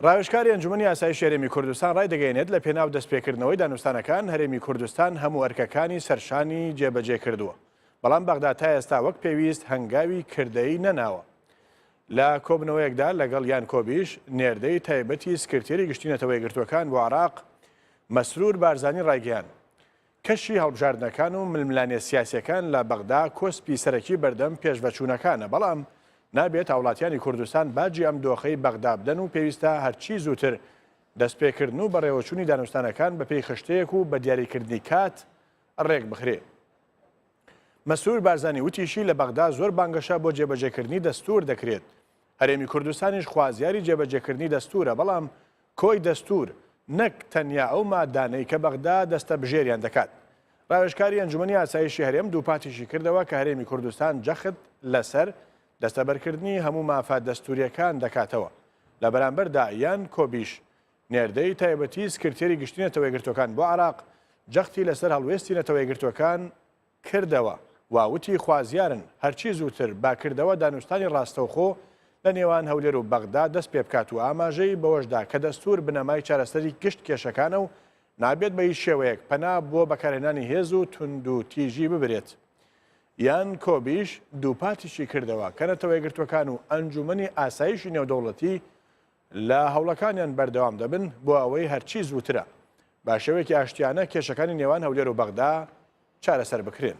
ڕاوێژکاری ئەنجومەنی ئاسایشی هەرێمی کوردستان ڕایدەگەیەنێت لە پێناو دەستپێکردنەوەی دانوستانەکان هەرێمی کوردستان هەموو ئەرکەکانی سەرشانی جێبەجێ کردووە بەڵام بەغدا تا ئێستا وەک پێویست هەنگاوی کردەی نەناوە لە کۆبنەوەیەکدا لەگەڵ یان کۆبیش نێردەی تایبەتی سکرتێری گشتی نەتەوە یەکگرتووەکان بۆ عراق مەسرور بارزانی ڕایگەیان کەشی هەڵبژاردنەکان و ململانێ سیاسیەکان لە بەغدا کۆسپی سەرەکی بەردەم پێشڤەچوونەکانە، بەڵام نابێت هاوڵاتیانی کوردستان باجی ئەم دۆخەی بەغدا بدەن و پێویستە هەرچی زووتر دەستپێکردن و بەڕێوەچوونی دانوستانەکان بەپێی خشتەیەک و بە دیاریکردنی کات ڕێکبخرێ. مەسرور بارزانی وتیشی لە بەغدا زۆر بانگەشە بۆ جێبەجێکردنی دەستوور دەکرێت، هەرێمی کوردستانیش خوازیاری جێبەجێکردنی دەستوورە، بەڵام کۆی دەستوور نەک تەنیا ئەو ماددانەی کە بەغدا دەستەبژێریان دەکات. راوێژکاری ئەنجومەنی ئاسایشی هەرێم دووپاتیشی کردەوە کە هەرێمی کوردستان جەخت لەسەر دەستەبەرکردنی هەموو مافە دەستوورییەکان دەکاتەوە لە بەرامبەردا، یان کۆبیش نێردەی تایبەتی سکرتێری گشتی نەتەوە یەکگرتووەکان بۆ عێراق جەختی لەسەر هەڵوێستی نەتەوە یەکگرتووەکان کردەوە و وتی خوازیارن هەرچی زووتر بە کردەوە دانوستانی ڕاستەوخۆ لە نێوان هەولێر و بەغدا دەست پێ بکات و ئاماژەی بەوەش دا کە دەستوور بنەمای چارەسەری گشت کێشەکانە و نابێت بە هیچ شێوەیەک پەنا بۆ بەکارهێنانی هێز و توندوتیژی ببرێت. یان کۆبیش دووپاتیشی کردەوە کە نەتەوە یەکگرتووەکان و ئەنجوومەنی ئاسایشی نێودەوڵەتی لە هەوڵەکانیان بەردەوام دەبن بۆ ئەوەی هەرچی زووترە بە شێوەیەکی ئاشتیانە کێشەکانی نێوان هەولێر و بەغدا چارەسەر بکرێن.